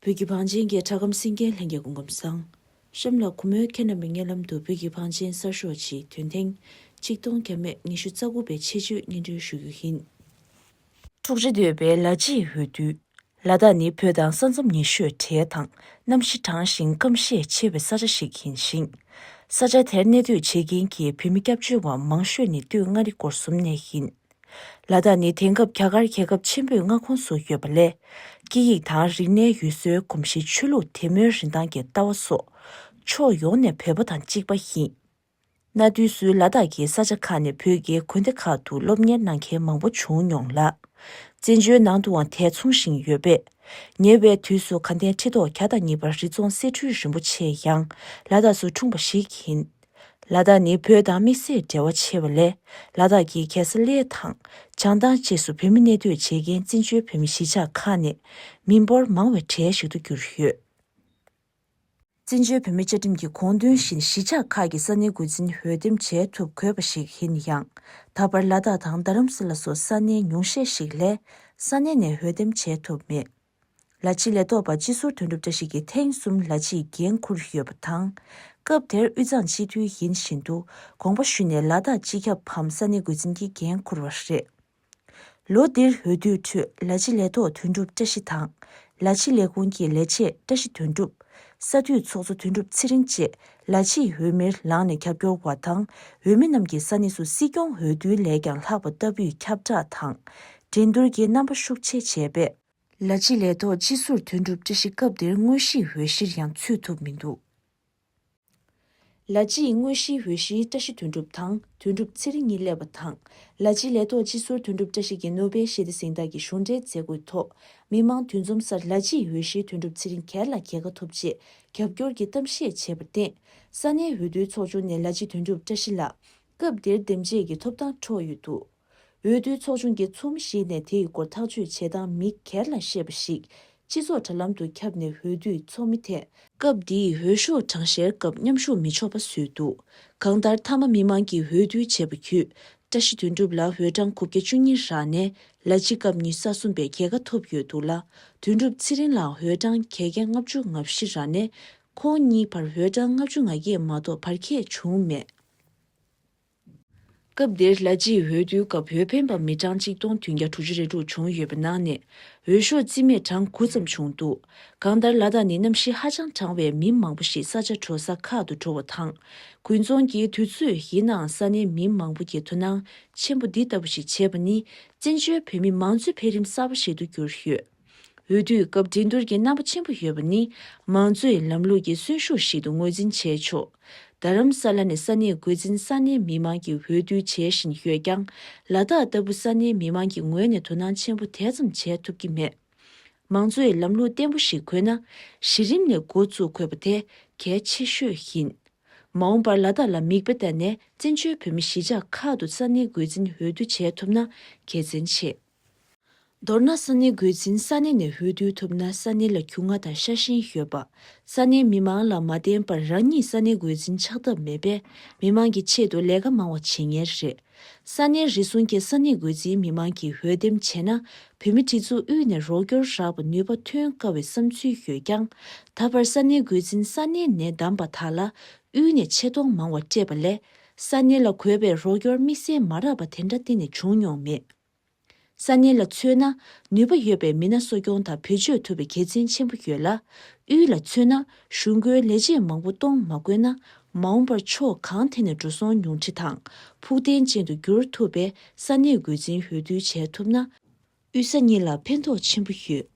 བོད་ཀྱི་བང་ཆེན་གྱི་གྲྭ་ཁམས་སེང་གེ་ལྷན་རྒྱས་སྐུ་ཁམས་བཟང། གཤམ་ལ་གུ་མོའི་ཁྱེད་རྣམ་པའི་སྙན་ལམ་དུ་བོད་ཀྱི་བང་ཆེན་གསར་ཤོག་ཅིག་དོན་ཐེངས་གཅིག་སྟོང་གྱ་མེད་ཉི་ཤུ་རྩ་དགུ་པའི་ཆེད་སྤྱོད་སྙན་སྒྲོན་ཞུ་རྒྱུ་ཡིན། འཁྲུག་རེ་འདོད་པའི་ལ་གཅིག་འོས་བསྡུ། ལ་དྭགས་ནི་བོད་དང་ས་མཚམས་ཉེ་ཤོས་བྲལ་དང་གནམ་གཤིས་གྲང་ཞིང་སྐམ་ཤས་ཆེ་བའི་ས་ཆ་ཞིག་ཡིན་ཞིང། ས་ཆ་དེར་གནས་སྡོད་བྱེད་མཁན་གྱི་བོད་མི་སྐྱབས་བཅོལ་བ་མང་ཤོས་ནི་སྟོད་མངའ་རིས་སྐོར་གསུམ་ནས་ཡིན། ལ་དྭགས་ནི་དེང་སྐབས་རྒྱ་གར་རྒྱལ་ཁབ་ཆེན་པོའི་མངའ་ཁོངས་སུ་ཡོད་པ་ལས། སྐད་ཡིག་དང་རིག་གནས་ཡུལ་སྲོལ་གོམས་གཤིས་ཆོས་ལུགས་དད་མོས་རིན་ཐང་གི་ལྟ་བ་སོགས། ཕྱོགས་ཡོངས་ནས་བོད་པ་དང་གཅིག་པ་ཡིན། གནའ་དུས་སུ་ལ་དྭགས་ཀྱི་ས་ཆ་ཁག་ནས་བོད་རྒྱའི་དགོན་སྡེ་ཁག་ཏུ་སློབ་གཉེར་གནང་མཁན་མང་པོ་བྱུང་མྱོང་ལ། བཙན་བྱོལ་ནང་དུའང་དེ་མཚུངས་བཞིན་ཡོད་པས། ཉེ་བའི་དུས་སུ་དགའ་ལྡན་ཁྲི་ཐོག་གྱ་དང་གཉིས་པ་རི་རྫོང་སེ་འཕྲུལ་རིན་པོ་ཆེ་ཡང་ལ་དྭགས་སུ་འཁྲུངས་པ་ཞིག་ཡིན། ལ་དྭགས་ནི་བོད་དང་དམིགས་བསལ་འབྲེལ་བ་ཆེ་བ་ལས་ལ་དྭགས་ཀྱི་གྱ་ས་ལའི་ཐང་བྱང་ཐང་བཅས་སུ་བོད་མི་གནས་སྡོད་བྱེད་མཁན་བཙན་བྱོལ་བོད་མི་གཞིས་ཆགས་ཁག་ནས་མི་འབོར་མང་བའི་གྲས་ཤིག་ཏུ་གྱུར་ཡོད། བཙན་བྱོལ་བོད་མི་བཅའ་ཁྲིམས་ཀྱི་དགོངས་དོན་བཞིན་གཞིས་ཆགས་ཁག་གི་ས་གནས་འགོ་འཛིན་འོས་འདེམས་བྱེད་ཐུབ་དགོས་པ་ཞིག་ཡིན་ཡང། ད་བར་ལ་དྭགས་དང་རྡ་རམ་ས་ལ་སོགས་ས་གནས་ཉུང་ཤས་ཤིག་ལས། ས་གནས་ནས་འོས་འདེམས་བྱེད་ཐུབ་མེད། ལ་ཕྱི་ལས་ཐོག་པ་སྤྱི་ཟུར་དོན་གྲུབ་བཀྲ་ཤིས་ཀྱིས་ཐེངས་གསུམ་ལ་ཕྱིའི་འགན་འཁུར་ཡོད་པ་དང། སྐབས་དེར་དབུས་གཙང་སྤྱི་འཐུས་ཡིན་བཞིན་དུ་དགོངས་པ་ཞུས་ནས་ལ་དྭགས་སྤྱི་ཁྱབ་བམ་ས་གནས་འགོ་འཛིན་གྱི་འགན་འཁུར་བ་རེད། ལོ་འདིར་འོས་བསྡུའི་ཁྲོད་ལ་ཆེ་ལས་ཐོག་དོན་གྲུབ་བཀྲ་ཤིས་དང། ལ་ཆེ་ལས་ཁུངས་ཀྱི་ལས་བྱེད་བཀྲ་ཤིས་དོན་གྲུབ། ས་འཐུས་ཚོགས་གཙོ་དོན་གྲུབ་ཚེ་རིང་བཅས་ལ་ཆེའི་འོས་མིར་ལངས་ནས་ཁྱབ་སྐྱོར་བ་དང་འོས་མི་རྣམས་ཀྱི་ས་གནས་སུ་སྲིད་སྐྱོང་འོས་བསྡུ་ལས་ཀྱང་ལྷག་པ་ལྟ་བུས་ཁྱབ་བསྒྲགས་དང་འགྲན་བསྡུར་གྱི་རྣམ་པ་ཤུགས་ཆེ་བྱས་པས། ལ་ཆེ་ལས་ཐོག་སྤྱི་ཟུར་དོན་གྲུབ་བཀྲ་ཤིས་སྐབས་དེར་དངོས་གཞིའི་འོས་གཞིར་ཡང་ཚུད་ཐུབ་མི་འདུག། ལ་སྤྱི་ཡི་དངོས་གཞིའི་འོས་གཞིའི་བཀྲ་ཤིས་དོན་གྲུབ་དང་དོན་གྲུབ་ཚེ་རིང་གཉིས་སླེབས་པ་དང། ལ་སྤྱི་ལས་ཐོག་སྤྱི་ཟུར་དོན་གྲུབ་བཀྲ་ཤིས་ཀྱིས་ནོ་སྦེལ་ཞི་བདེ་གཟེངས་རྟགས་ཀྱི་གཞུང་འབྲེལ་མཛད་སྒོའི་ཐོག་མི་མང་དུས་འཛོམས་སར་ལ་སྤྱི་ཡི་འོས་གཞིའི་དོན་གྲུབ་ཚེ་རིང་གར་ལ་གྱེས་ཀ་ཐུབ་ཅེས་རྒྱབ་སྐྱོར་གྱི་གཏམ་བཤད་བྱས་པར་བརྟེན། ས་གནས་འོས་བསྡུའི་ཚོགས་ཆུང་ནས་ལ་སྤྱི་དོན་གྲུབ་བཀྲ་ཤིས་ལགས་སྐབས་དེར་འདེམས་བྱེད་ཀྱི་ཐོབ་ཐང་འཕྲོག་ཡོད་འདུག། འོས་བསྡུའི་ཚོགས་ཆུང་གི་ཚོགས་མི་ཞིག་ནས་དེ་ཡི་སྐོར་ཐག་གཅོད་བྱེད་སྟངས་མི་སྒེར་ལ་བཤད་པ་ཞིག་སྤྱི་ཚོགས་དྲ་ལམ་དུ་ཁྱབ་ནས་འོས་བསྡུའི་ཚོགས་མི་དེས། སྐབས་འདིའི་འོས་ཤོག་གྲངས་བཤེར་སྐབས་མཉམ་ཞུགས་མི་ཆོག་པ་བཟོས་འདུག་གང་ལྟར་མཐའ་མ་མི་དམངས་ཀྱིས་འོས་བསྡུ་བྱས་པ་བརྒྱུད་བཀྲ་ཤིས་དོན་གྲུབ་ལགས་འོས་གྲངས་དགུ་བརྒྱ་བཅུ་གཉིས་རག་ནས་ལ་གཅིག་སྐབས་ཉི་ས་གསུམ་པའི་གྱེས་ཀ་ཐོབ་ཡོད་འདུག་ལ་དོན་གྲུབ་ཚེ་རིང་ལགས་འོས་གྲངས་གྱེས་ཀ་ལྔ་བཅུ་ང་བཞི་རག་ནས་ཁོང་གཉིས་བར་འོས་གྲངས་ལྔ་བཅུ་ང་བརྒྱད་མ་གཏོགས་བར་ཁྱད་བྱུང་མེད། སྐབས་དེར་ལྷ་རྗེའི་འོས་བསྡུའི་སྐབས་འོས་འཕེན་པ་མི་གྲངས་གཅིག་སྟོང་བདུན་བརྒྱ་དྲུག་ཅུ་རེ་དྲུག་བྱུང་ཡོད་པའི་ནང་ནས་འོས་ཤོག་རྩིས་མེད་གྲངས་དགུ་ཙམ་བྱུང་འདུག་གང་ལྟར་ལ་དྭགས་ནི་གནམ་གཤིས་ཧ་ཅང་གྲང་བས་མི་མང་པོ་ཞིག་ས་ཆ་དྲོ་ས་ཁག་ཏུ་འགྲོ་བ་དང། དགུན་རྫོང་གི་དུས་ཚོད་ཡིན་ནའང་ས་གནས་མི་མང་པོ་ཀྱིས་དོ་སྣང་ཆེན་པོ་འདི་ལྟ་བུ་ཞིག་བྱས་པ་ནི་བཙན་བྱོལ་བོད་མི་མང་གཙོའི་འཕེལ་རིམ་གསར་པ་ཞིག་ཏུ་གྱུར་ཡོད། འོས་བསྡུའི་སྐབས་འགྲན་བསྡུར་གྱི་རྣམ་པ་ཆེན་པོ་ཡོད་པ་ནི་མང་གཙོའི་ལམ་ལུགས་ཀྱི་གསོན་ཤུགས་ཤིག་ཏུ་ངོས་འཛིན་བྱས་ཆོག་རྡ་རམ་ས་ལ་ནི་ས་གནས་འགོས་འཛིན་ས་གནས་མི་མང་གིས་འོས་བསྡུ་བྱེད་བཞིན་ཡོད་ཀྱང་ལ་དྭགས་ལྟ་བུ་ས་གནས་མི་མང་གི་ངོས་ནས་དོ་སྣང་ཆེན་པོ་དེ་ཙམ་བྱས་ཐུབ་ཀྱི་མེད། མང་གཙོའི་ལམ་ལུགས་བརྟན་པོ་ཞིག་དགོས་ན་གཞི་རིམ་ནས་འགོ་བཙུགས་དགོས་པ་དེ་གལ་ཆེ་ཤོས་ཡིན། མ་འོངས་པར་ལ་དྭགས་ལ་མིག་དཔེ་བལྟ་ནས་བཙན་བྱོལ་བོད་མི་གཞིས་ཆགས་ཁག་ཏུ་ས་གནས་འགོས་འཛིན་འོས་བསྡུ་བྱེད་ཐུབ་ན་དགེ་མཚན་ཆེ། མདོར་ན་ས་གནས་སྒོས་འཛིན་ས་གནས་ནས་འོས་བསྡུ་ཐུབ་ན་ས་གནས་ལ་གུ་ང་དང་ཤ་ཞེན་ཡོད་པ། ས་གནས་མི་མང་ལ་མ་བརྟེན་པར་རང་ཉིད་ས་གནས་སྒོས་འཛིན་ཆགས་ཐབས་མེད་པས་མི་མང་གི་ཆེད་དུ་ལས་ཀ་མང་བ་བྱེད་ངེས་རེད། ས་གནས་རེ་ཟུང་གིས་ས་གནས་སྒོས་འཛིན་མི་མང་གིས་འོས་འདེམས་བྱས་ན་བོད་མི་ཁྲི་ཚོ་དབུས་ནས་རོགས་སྐྱོར་རག་པ་ནུས་པ་ཐོན་དཀའ་བའི་བསམ་ཚུལ་ཡོད་ཀྱང། ད་བར་ས་གནས་སྒོས་འཛིན་ས་གནས་ནས་བདམས་པ་དག་ལ་དབུས་ནས་ཆེ་མཐོང་མང་བ་སྤྲད་པ་ལས་ས་གནས་ལ་གོ་བའི་རོགས་སྐྱོར་དམིགས་བསལ་མ་རག་པ་དེ་འདྲ་གཏན་ནས་བྱུང་མྱོང་མེད། ས་གནས་ལ་མཚོན་ན་ནུས་པ་ཡོད་པའི་མི་སྣ་གསོ་སྐྱོང་དང་བེད་སྤྱོད་ཐུབ་པའི་དགེ་མཚན་ཆེན་པོ་ཡོད་ལ། དབུས་ལ་མཚོན་ན་གཞུང་དགོན་ལས་བྱེད་མང་པོ་གཏོང་མ་དགོས་ན་མ་འོངས་པར་ཕྱོགས་གང་ཐད་ནས་འགྲོ་སོང་ཉུང་འཕྲི་དང་ཕུགས་བརྟན་ཅན་དུ་འགྱུར་ཐུབ་པས་ས་གནས་རྒོལ་འཛིན་འོས་བསྡུ་བྱས་ཐུབ་ན། དབུས་ས་གཉིས་ལ་ཕན་ཐོགས་ཆེན་པོ་ཡོད།